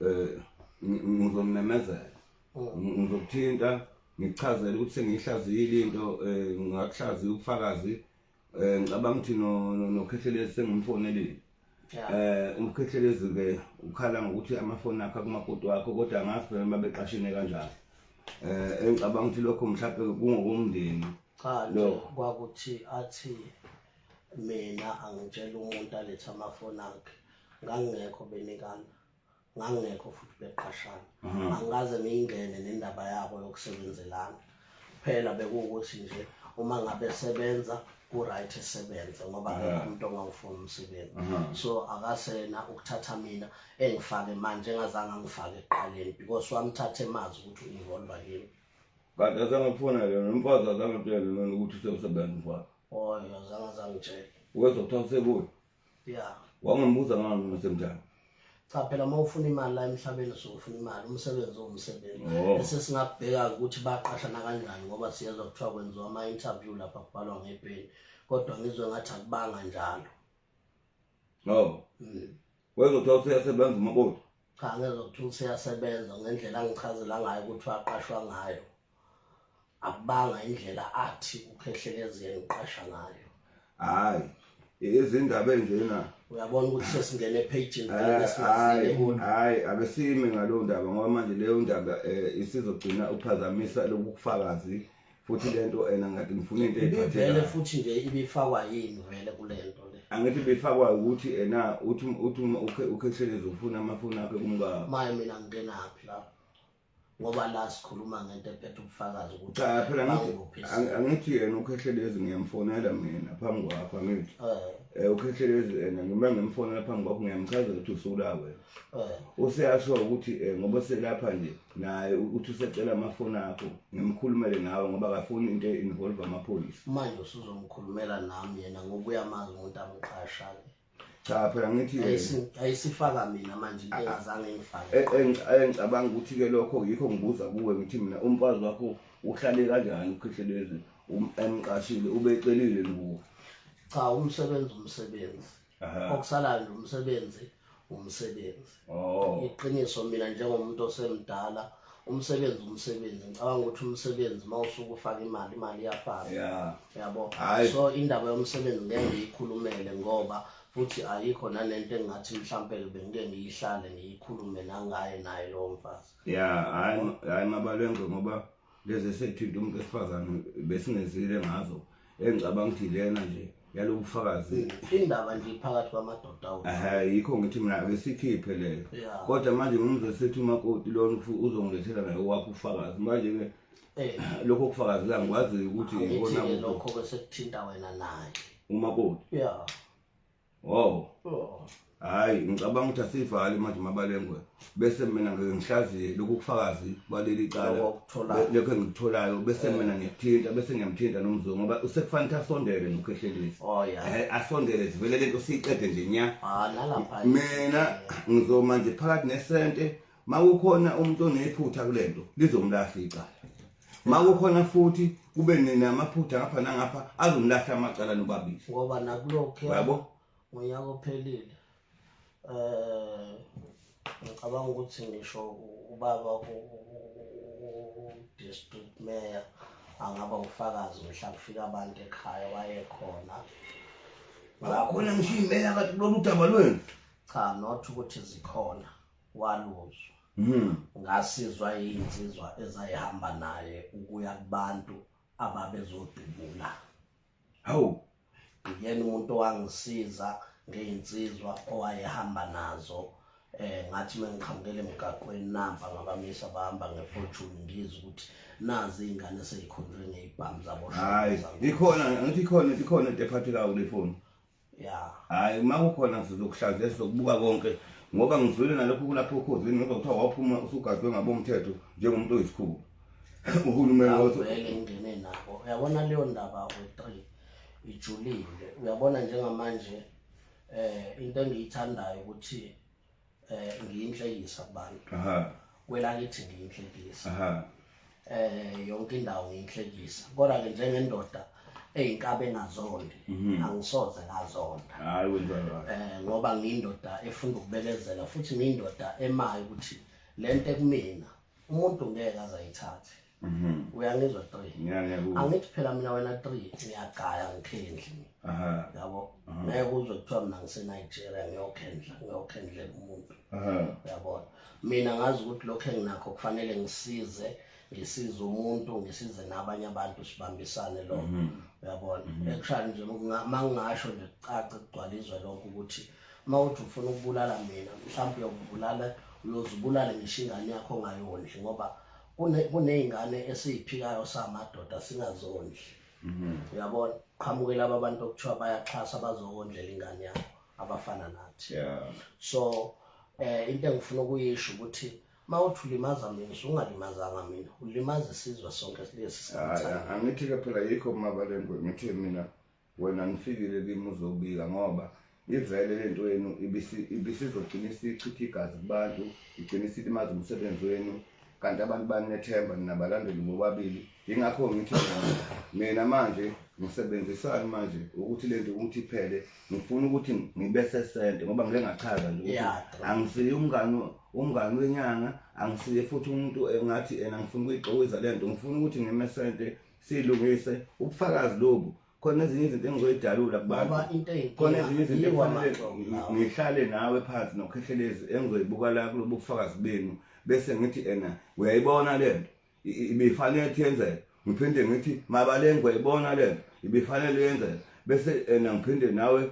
eh ngizomemezela oh. ngizokuthinta ngichazele ukuthi sengiyihlazile into eh ngakuhlaziya ubufakazi eh ngicabanga ukuthi no nokhehlekelezi sengimfonelile eh umkhehlelezi ke ukhala ngokuthi amafoni akhe kumakoti wakho kodwa ngazi phela uma beqashine kanjalo eh engicabanga ukuthi lokho mhlawumbe kungokomndeni cha lo kwakuthi athi mina angitshela umuntu alethe amafoni akhe ngangingekho benikana ngangingekho futhi beqashana mhm. angikaze ngiyingene nendaba yabo yokusebenzelana kuphela bekuwukuthi nje uma ngabe sebenza ku-right esebenze ngoba akekho umuntu ongawufuni umsebenzi so akasena ukuthatha mina engifake manje engazange angifake ekuqaleni because wamthathe mazi ukuthi ungivolva yini kanti asangifuna yona umfazi azangitshele nona ukuthi sewusebenza umfazi oyo azange azangitshele wezokuthatha sekuyo yeah wangibuza ngani msemjani cha phela uma ufuna imali la emhlabeni so ufuna imali umsebenzi owumsebenzi oh. bese singabheka ukuthi baqashana kanjani ngoba siyezwa kuthiwa kwenziwa ama interview lapha kubhalwa ngepeni kodwa ngizwe ngathi akubanga njalo no mm. wezothiwa useyasebenza umakoti cha ngezokuthiwa useyasebenza ngendlela angichazela ngayo ukuthi waqashwa ngayo akubanga indlela athi ukhehlekezeni uqasha ngayo hayi izindaba enjena uyabona ukuthi sesingene ephejini hayi abesime ngaleyo ndaba ngoba manje leyo ndaba um eh, isizogcina uphazamisa lobu bufakazi futhi le nto ena ngathi ngifuna into ibivele futhi nje ibifakwa yini vele kule nto le angithi bifakwa ukuthi ena uthi uthi ukhethelezi ufuna amafoni akhe kumka maye mina ngingenaphi lapho ngoba la sikhuluma ngento ephethe ubufakazi ukuthi cha phela ngithi angithi yena ukhehlelezi ngiyamfonela mina phambi kwakho angithi eh, eh ukhehlelezi yena ngiba ngimfonela phambi kwakho ngiyamchazela ukuthi usulawe eh. useyasho ukuthi eh, ngoba selapha nje naye uthi usecela amafoni akho ngimkhulumele nawe ngoba akafuni into involve amaphoyisa manje usuzomkhulumela nami yena ngokuya mazi umuntu amqasha ke cha phela ngithi ayisifaka mina manje ah, ah. engazange ngifake engicabanga ukuthi ke lokho yikho ngibuza kuwe ngithi mina umfazi wakho uhlale kanjani ukhihlelezi um, emqashile ubecelile luwo cha umsebenzi umsebenzi okusalayo umsebenzi umsebenzi oh. iqiniso mina njengomuntu osemdala umsebenzi umsebenzi ngicabanga ukuthi umsebenzi uma usuke ufaka imali imali iyafaka yabo so indaba yomsebenzi ngeke ngiyikhulumele ngoba futhi ayikho nanento engingathi mhlampe bengike ngiyihlale ngiyikhulume nangaye naye lowo mfazi ya hayi mabalengwe ngoba lezi esethinta umuntu wesifazane besingezile ngazo engicabanga ukuthi lena nje yalobu bufakazi indaba nje iphakathi kwamadoda ehe yikho ngithi mina ake sikhiphe leyo kodwa manje ngumzwe sethi umakoti lona uzongilethela naye owakho ufakazi manje-ke eh. lokho kufakazi la ngikwaziyo ukuthi ikona lokho-ke sekuthinta wena naye umakoti ya Wow. Oh. Hayi ngicabanga ukuthi asivali manje mabalengwe bese mina ngeke ngihlaziye lokhu kufakazi baleli cala Lokho okuthola- lokho engikutholayo bese mina ngiyakuthinta bese ngiyamthinta nomzungu ngoba usekufanele ukuthi asondele nokhehlelisi Oh ya. Eh, asondele zivele lento siyiqede nje nya Ah nalapha. mina ngizoma nje phakathi nesente makukhona umuntu onephutha kulento lizomlahla icala makukhona futhi kube namaphutha ngapha nangapha azomlahla amacala nobabili ngoba nakulokho yabo ngonyaka ophelile eh ngicabanga ukuthi ngisho ubaba u-district mayor angaba ufakazi mhla kufika abantu ekhaya wayekhona ngakhona ngisho imeya kati lolu daba lwenu cha not ukuthi zikhona waluzwa mhm. ngasizwa yinsizwa ezayihamba naye ukuya kubantu ababezodubula hawu ngiyena umuntu owangisiza ngeyinsizwa owayehamba nazo eh ngathi mengiqhamukele emgaqweni nampa ngabamisa bahamba ngefortune ngizwe ukuthi nazi izingane sezikhonjwe ngezibhamu zabo hayi ikhona ngithi ikhona ikhona into ephathekayo kule foni Yeah. Hayi uma kukhona sizokuhlaziya sizokubuka konke ngoba ngizwile nalokho kulapho ukhozini ngoba kuthiwa waphuma usugadwe ngabomthetho njengomuntu oyisikhulu. Uhulumeni wathi Awuvele ngene nabo. Uyabona leyo ndaba we-three ijulile. Uyabona njengamanje eh into engiyithandayo ukuthi eh ngiyinhlekisa kubantu aha kwelakithi ngiyinhlekisa aha eh yonke indawo ngiyinhlekisa kodwa ke njengendoda eyinkabe engazondi mhm. angisoze ngazonda hayi wenza right eh ngoba ngiyindoda efuna ukubekezela futhi ngiyindoda emayo ukuthi lento ekumina umuntu ngeke azayithathe Mhm. uyangizwa three Ngiya- ngiyakuzwa. angithi phela mina wena three ngiyagaya ngikhendle Aha, yabo Aha. ngeke uzwe kuthiwa mina ngisenigeria ngiyokhendla ngiyokhendlela umuntu aha. uyabona mina ngazi ukuthi lokhu enginakho kufanele ngisize ngisize umuntu ngisize nabanye abantu sibambisane lokho Mhm. uyabona ekushani nje kunga- uma ngingasho nje kucace kugcwala izwe lonke ukuthi uma uthi ufuna ukubulala mina mhlawumbe uyokubulala uyozibulala ngisho ingane yakho ongayondli ngoba kuney'ngane esiyiphikayo samadoda singazondli mhm. uyabona qhamuke laba abantu okuthiwa bayaxhasa bazokondlela ingane yabo abafana nathi so um into engifuna ukuyisho ukuthi uma uthi ulimaza mina ungalimazanga mina ulimaza isizwe sonke lesi angithi-ke phela yikho mabalengwe ngithe mina wena nifikile kimi uzobika ngoba ivele le nto yenu ibisizogcina isichitha igazi kubantu igcina isilimaza umsebenzi wenu kanti abantu banethemba ninabalandeli bobabili yingakho ngithi mina manje ngisebenzisani manje ukuthi le nto ukuthi iphele ngifuna ukuthi ngibe sesente ngoba ngike ngachaza nje ukuthi angisiye umngani umngani wenyanga angisiye futhi umuntu engathi ena ngifuna ukuyixokiza le nto ngifuna ukuthi ngime sente silungise ubufakazi lobu khona ezinye izinto engizoyidalula kubantu khona ezinye izinto ekufanele ngihlale nawe phansi nokhekhelezi engizoyibuka la kulobu bufakazi benu bese ngithi ena uyayibona le nto ibifanele ukuthi yenzeke ngiphinde ngithi mabalenge uyayibona le nto ibifanele yenzeke bese ena ngiphinde nawe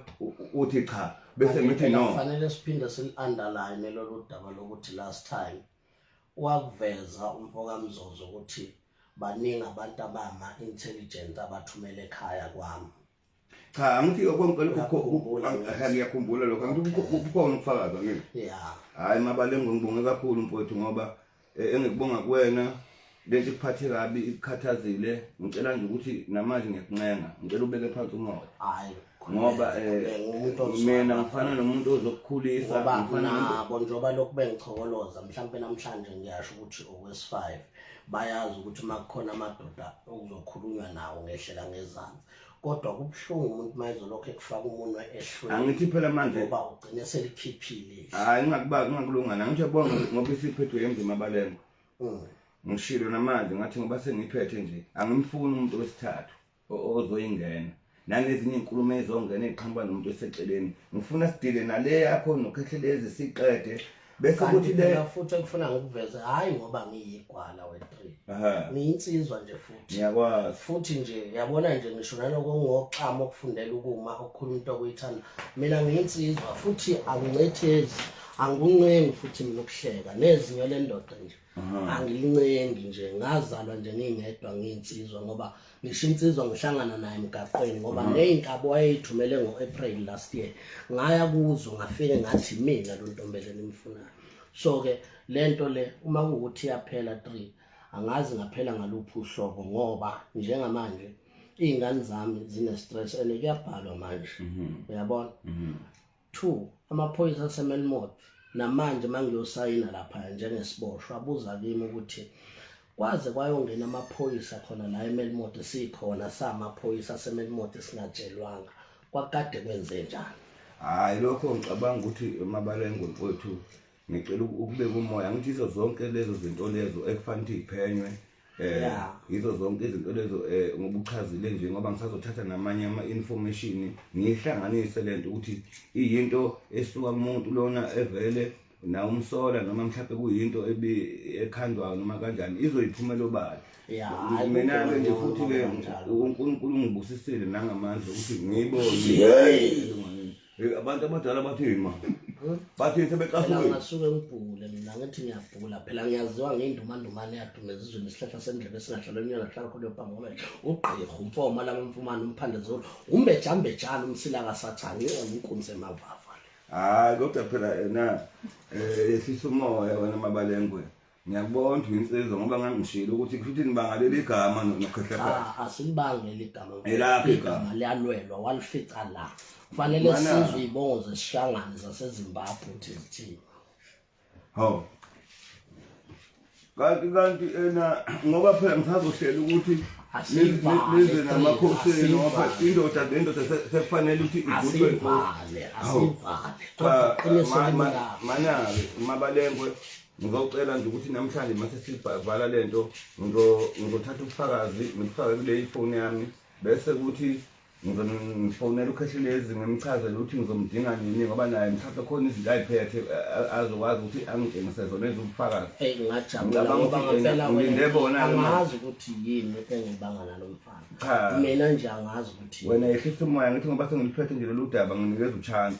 uthi cha bese ngithi no kufanele siphinde sili-underline lolu daba lokuthi last time Wakuveza umfokaMzozo ukuthi baningi abantu abama intelligent abathumele ekhaya kwami. Cha angithi okwangikukhumbula ngiyakhumbula lokho angithi kukhona ukufakaza kimi. Yeah. Hayi mabalengwe ngibonge kakhulu mfowethu ngoba eh, engikubonga kuwena lento ikuphathe kabi ikukhathazile ngicela nje ukuthi namanje ngiyakuncenga ngicela ubeke phansi umoya hayi ngoba um mina ngifana nomuntu ozokukhulisa nabo njengoba lokhu bengichokoloza mhlawumpe namhlanje ngiyasho ukuthi okwesi five bayazi ukuthi uma kukhona amadoda okuzokhulunywa nawo ngehlela ngezansi kodwa kubuhlungu umuntu uma ezolokhu ekufaka umunwe ehlweni angithi phela manje ngoba ugcine selikhiphile hayi ngingakuba ngingakulungana ngisho bonke ngoba isiphethwe emzima balengo mm. ngishilo namanje ngathi ngoba sengiphethe nje angimfuni umuntu wesithathu ozoyingena nangezinye inkulumo ezongena eqhamuka nomuntu eseceleni ngifuna sidile nale yakho nokhekhelezi siqede bese kuthi le futhi engifuna ngikuveze hayi ngoba ngiyigwala we3 ngiyinsizwa nje futhi ngiyakwazi futhi nje yabona nje ngisho naloko ngoxama okufundela ukuma okukhuluma into okuyithanda mina ngiyinsizwa futhi angincethezi angikuncengi futhi mina ukuhleka nezinyo lendoda nje angilincengi nje ngazalwa nje ngingedwa ngiyinsizwa ngoba ngisho insizwa ngihlangana naye emgaqweni ngoba ngeyinkabo wayeyithumele ngo-april last year ngaya kuzo ngafike ngathi mina lo ntombele nimfunayo so-ke le nto le uma kuwukuthi iyaphela three angazi ngaphela ngaluphi uhlobo ngoba njengamanje iy'ngane zami zine-stress and kuyabhalwa manje mhm. uyabona mhm. 2 amaphoyisa asemelmot namanje mangiyosayina lapha njengesiboshwa abuza kimi ukuthi kwaze kwayongena amaphoyisa khona la emelmot sikhona samaphoyisa asemelmot singatshelwanga kwakade kwenze njani hayi lokho ngicabanga ukuthi mabalengo mfowethu ngicela ukubeka umoya ngithi izo zonke lezo zinto lezo ekufanele ukuthi iphenywe eh yizo zonke izinto lezo eh ngobuchazile nje ngoba ngisazothatha namanye ama information ngihlanganise lento ukuthi iyinto esuka kumuntu lona evele na umsola noma mhlawumbe kuyinto ebi ekhandwayo noma kanjani izoyiphumela obala mina ke nje futhi ke uNkulunkulu ungibusisile nangamandla ukuthi ngiyibone Eh, abantu abadala bathini ma bathini Phela sebecasuke ngasuke ngibhule mina ngithi ngiyabhula phela ngiyaziwa ngeyindumandumane yadume ezizweni isihlahla sendlebe esingahlala emnyana kuhlala khona yobhangomele ugqirha umfoma laba mfumane umphande zulu umbejambejana umsila kasathane yona inkunzi emavava hayi kodwa phela yena um yehlisa umoya wena mabalengwe ngiyakubona insizwa ngoba ngangishilo ukuthi kushuthi nibanga leli gama nokhehlephela ah, asilibangi leli gama elakhe igama liyalwelwa walifica la kufanele sizwe ibongo zesishangane zasezimbabwe ukuthi zithini ho kanti kanti ena ngoba phela ngisazohlela ukuthi nize namakhosi enu ngoba indoda le ndoda sekufanele ukuthi igudwe manake mabalengwe ngizocela nje ukuthi namhlanje mase sivala le nto ngizothatha ubufakazi ngibufake kule ifoni yami bese kuthi ngifonela ukhehlelezi ngimchazele ukuthi ngizomdinga nini ngoba naye mhlawumbe khona izinto ayiphethe azokwazi ukuthi angitshengise zona ezubufakazi ngilinde bonaazi ukuthi yini engibanga nalo mfana mina nje angazi ukuthi wena yehlisa umoya ngithi ngoba sengiliphethe nje lolu daba nginikeza uchance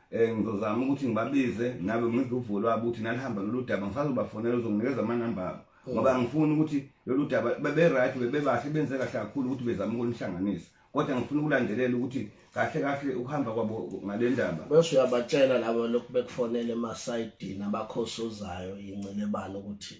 Eh ngizozama ukuthi ngibabize nabe ngizuvula ukuthi nalihamba lolu daba ngisazobafonela uzonginikeza amanamba abo. Hmm. Ngoba ngifuna ukuthi lolu daba bebe right bebe bahle benze kahle kakhulu ukuthi bezama ukunihlanganisa. Kodwa ngifuna ukulandelela ukuthi kahle kahle ukuhamba kwabo ngalendaba. Bese uyabatshela labo lokhu bekufonele emasayidini abakhosozayo incelebani ukuthi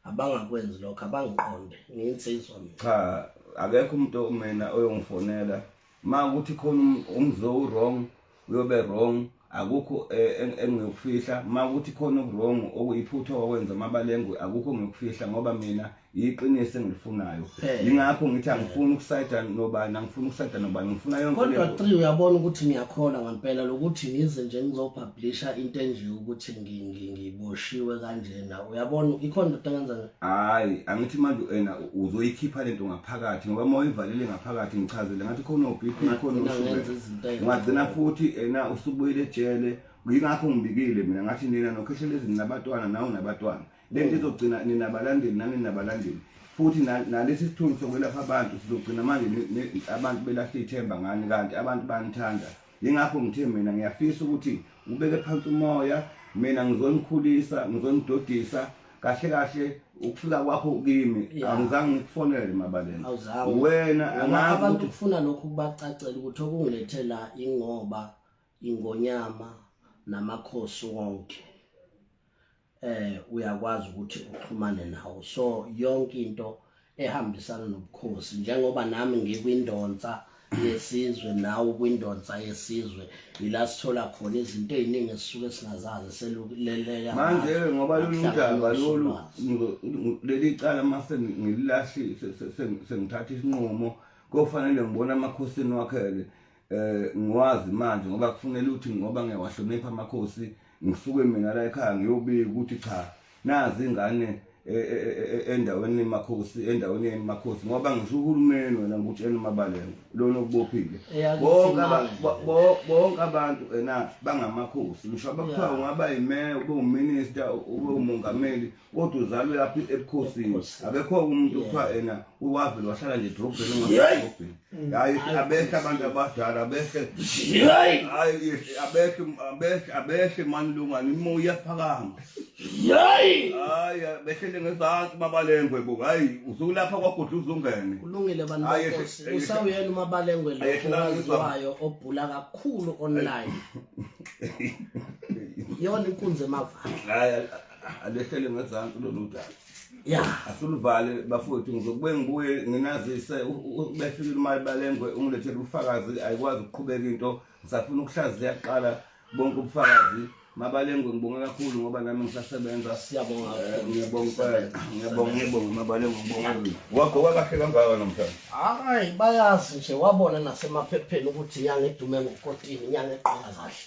abangakwenzi lokho abangiqonde nginsizwa mina. Cha akekho umuntu mina oyongifonela ma ukuthi khona umzo um, wrong uyobe wrong akukho eh, engiyokufihla ma ukuthi khona okuwrong okuyiphutha okwenza amabalengwe akukho ngiyokufihla ngoba mina yiqiniso engilifunayo yingakho ngithi angifuni ukusayida nobani angifuni ukusayida nobani ngifuna yonke kodwa three uyabona ukuthi ngiyakholwa ngampela lokuthi ngize nje ngizopublisha into enje ukuthi ngiboshiwe kanjena uyabona ikhona into engenza hayi angithi manje ena uzoyikhipha lento ngaphakathi ngoba uma uyivalele ngaphakathi ngichazele ngathi khona uBP khona ungagcina futhi ena usubuyile ejele ngingakho ngibikile mina ngathi nina nokheshela ezini nabatwana nawu nabatwana lento izogcina nina balandeli nani nabalandeli futhi nalesi sithunzi sokwelapha abantu sizogcina manje abantu belahle ithemba ngani kanti abantu banithanda yingakho ngithe mina ngiyafisa ukuthi ubeke phansi umoya mina ngizonikhulisa ngizonidodisa kahle kahle ukufika kwakho kimi angizange ngikufonele mabaleni wena angazi abantu kufuna lokho kubacacela ukuthi okungilethela ingoba ingonyama namakhosi wonke eh uyakwazi ukuthi uxhumane nawo so yonke into ehambisana nobukhosi njengoba nami ngikwindonsa yesizwe nawe kwindonsa yesizwe yila sithola khona izinto eziningi esisuke singazazi seluleleka manje ngoba lolu daba lolu leli cala mase ngililahlise sengithatha isinqumo kofanele ngibone amakhosini wakhele eh ngiwazi manje ngoba kufunela ukuthi ngoba ngiyawahlonipha amakhosi ngisuke mina la ekhaya ngiyobika ukuthi cha nazi ingane e, e, e, endaweni makhosi endaweni yeni makhosi ngoba ngisho uhulumeni wena ngikutshela umabalelo lona okubophile bonke bonke abantu ena bangamakhosi ngisho abakuthiwa ungaba yimeya ube uminister ube umongameli kodwa uzalwe lapha ebukhosini akekho umuntu kuthiwa ena uwavele wahlala nje edrobheni ngodrobheni hayi abehle abantu abadala abehle hayi abehle abehle abehle mani lungani imoya iyaphakama hayi hayi behlele ngezansi mabalengwe bo hayi usukulapha kwagudla uzungene kulungile bantu benkosi usawuyena umabalengwe lo owaziwayo obhula kakhulu online yona inkunzi emavana alehlele ngezansi lolu daba ya asiluvale bafowethu ngizokube ngibuye nginazise befikile imali balengwe ungilethele ubufakazi ayikwazi ukuqhubeka into ngisafuna ukuhlaziya kuqala bonke ubufakazi mabalengwe ngibonge kakhulu ngoba nami ngisasebenza siyabonga eh, ngiyabonga ngiyabonga ngiyabonga mabalengwe ngibonga wakho wakahle kangaka namhlanje hayi bayazi nje wabona nasemaphepheni ukuthi inyanga edume ngokotini inyanga eqala kahle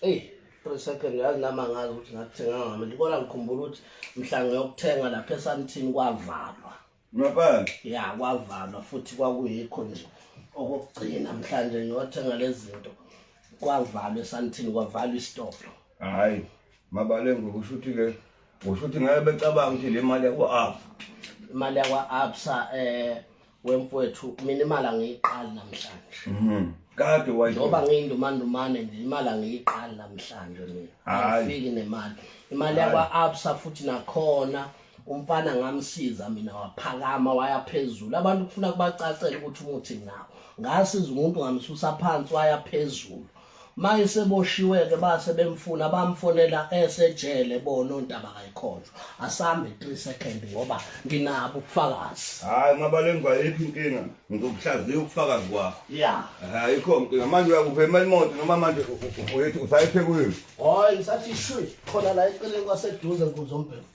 eyi three second yazi nama ngazi ukuthi ngakuthenga ngami ndibona ngikhumbula ukuthi mhla ngiyokuthenga lapha esantini kwavalwa ngaphandle ya kwavalwa futhi kwakuyikho nje okokugcina mhlanje ngiyothenga lezi zinto kwavalwa esantini kwavalwa isitolo hhayi mabale ngokusho ukuthi-ke kusho ukuthi ngabe becabanga ukuthi le mali yakwa-absa imali yakwa-absa um eh, wemfowethu mina imali angiyiqali namhlanje mhm kade wayo ngoba ngiyindumandumane nje imali angiyiqali namhlanje mina angifiki nemali imali yakwa absa futhi nakhona umfana ngamsiza mina waphakama waya phezulu abantu kufuna kubacacela ukuthi umuthi nawo ngasiza umuntu ngamsusa phansi waya phezulu manje seboshiwe-ke base bemfuna bamfonela esejele bona ontaba kayikhonjwa asambe 3 second ngoba nginabo ubufakazi hayi mabalengwa yiphi inkinga ngizokuhlaziya ubufakazi kwakho ya ayikho nkinga manje uyakuphema imoto noma manje uyethi usayiphekuyini hayi ngisathi shwi khona la eceleni kwaseduze nkuzombhemu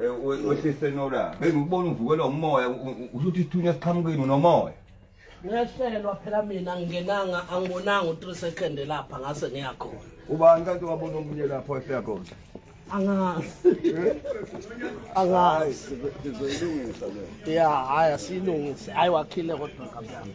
Eh, wehlise nola bengikubona uvukelwa umoya usho ukuthi isithunywa siqhamukile unomoya ngehlelwa phela mina ngingenanga angibonanga u-three second lapha ngase ngiyakhona ubani kanti wabona omunye lapho esiyakhona angazi eh? angazi ngizoyilungisa le ya hhayi asiyilungise hhayi wakhile kodwa kamnami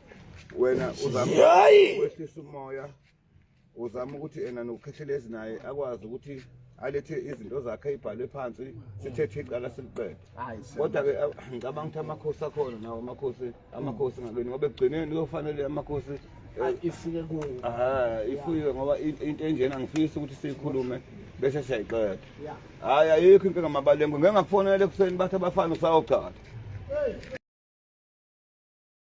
wena uzama Yayi! ukwehlisa umoya uzama ukuthi ena nokukhehlelela naye akwazi ukuthi alethe izinto zakhe ayibhalwe phansi sithethe icala siliqede kodwa ke aw- ngicabanga ukuthi amakhosi akhona nawo amakhosi amakhosi ngakweni ngoba ekugcineni kuyofanele amakhosi eh, ifike ku aha ifuywe ngoba in- into enjena ngifisa ukuthi siyikhulume bese siyayiqeda hayi ayikho inkinga mabalengwe ngeke ngakufonela ekuseni bathi abafana usawugcada